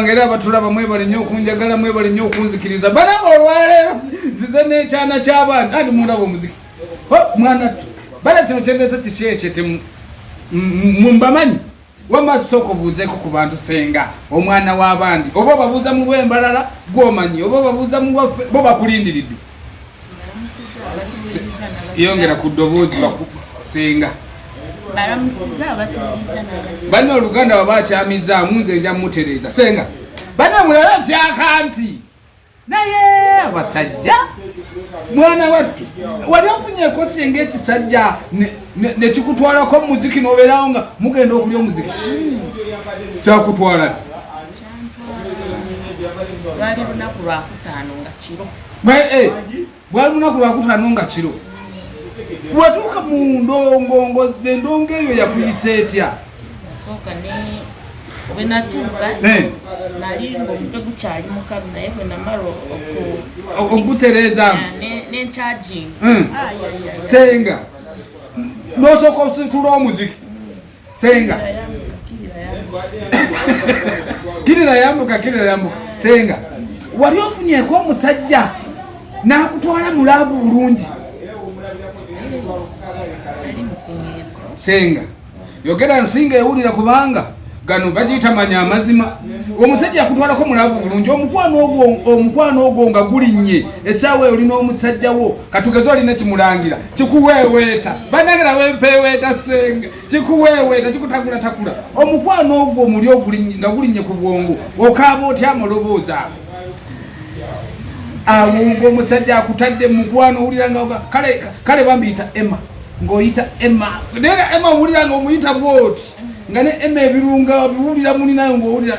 ngeri abatulaba mwebale nnyo okunjagala mwebale nnyo okunzikiriza balaba olwaleero nzize n'ekyana ky'abaana andi mundaba omuziki mwana ttu bala kino kyendeeza kikyekye temu mumbamanyi wama tusooka obuuzeeko ku bantu senga omwana w'abandi oba obabuuza mu bwembalala gwomanyi oba obabuuza mu waffe bo bakulindiridde yongera ku ddoboozi bakusenga banna oluganda baba akyamizaamu nze nja mutereeza senga banna mulaba kyaka nti naye abasajja mwana wattu wali ofunyeko senga ekisajja nekikutwalako mumuziki nobeerawo nga mugenda okulya omuziki kyakutwala lwali lunaku lwakutaano nga kiro eh, lwali lunaku lwakutaano nga kiro watuuka mu ndongongo endongo eyo yakuyisa etya bwenatuuka eh. nali ngaomutwe gukyali mukalu naye bwenamala okugutereezamu nenkyajinga eh. senga nosooka ositula omuziki senga kirira yambuka kirira yambuka senga wali ofunyeko omusajja nakutwala mulaavu bulungi senga yogera nsinga ewulira kubanga gano bagiyita manya amazima omusajja yakutwalako mulavu bulungi omukwano ogwo omukwano ogwo nga gulinnye esaawa eyo olina omusajja wo katugeze olina kimulangira kikuweeweeta banange nawe mpeeweeta senga kikuweeweeta kikutakulatakula omukwano ogwo omuli oguli nga gulinnye ku bwongo okaaba otya amaloboozi ago awunga omusajja akutadde mukwano owulira nga kale kale bambiyita emma ng'oyita emma naye emma owulira nga omuyita bwoti nga ne emma ebirunga biwulira muni nayo ng'owulira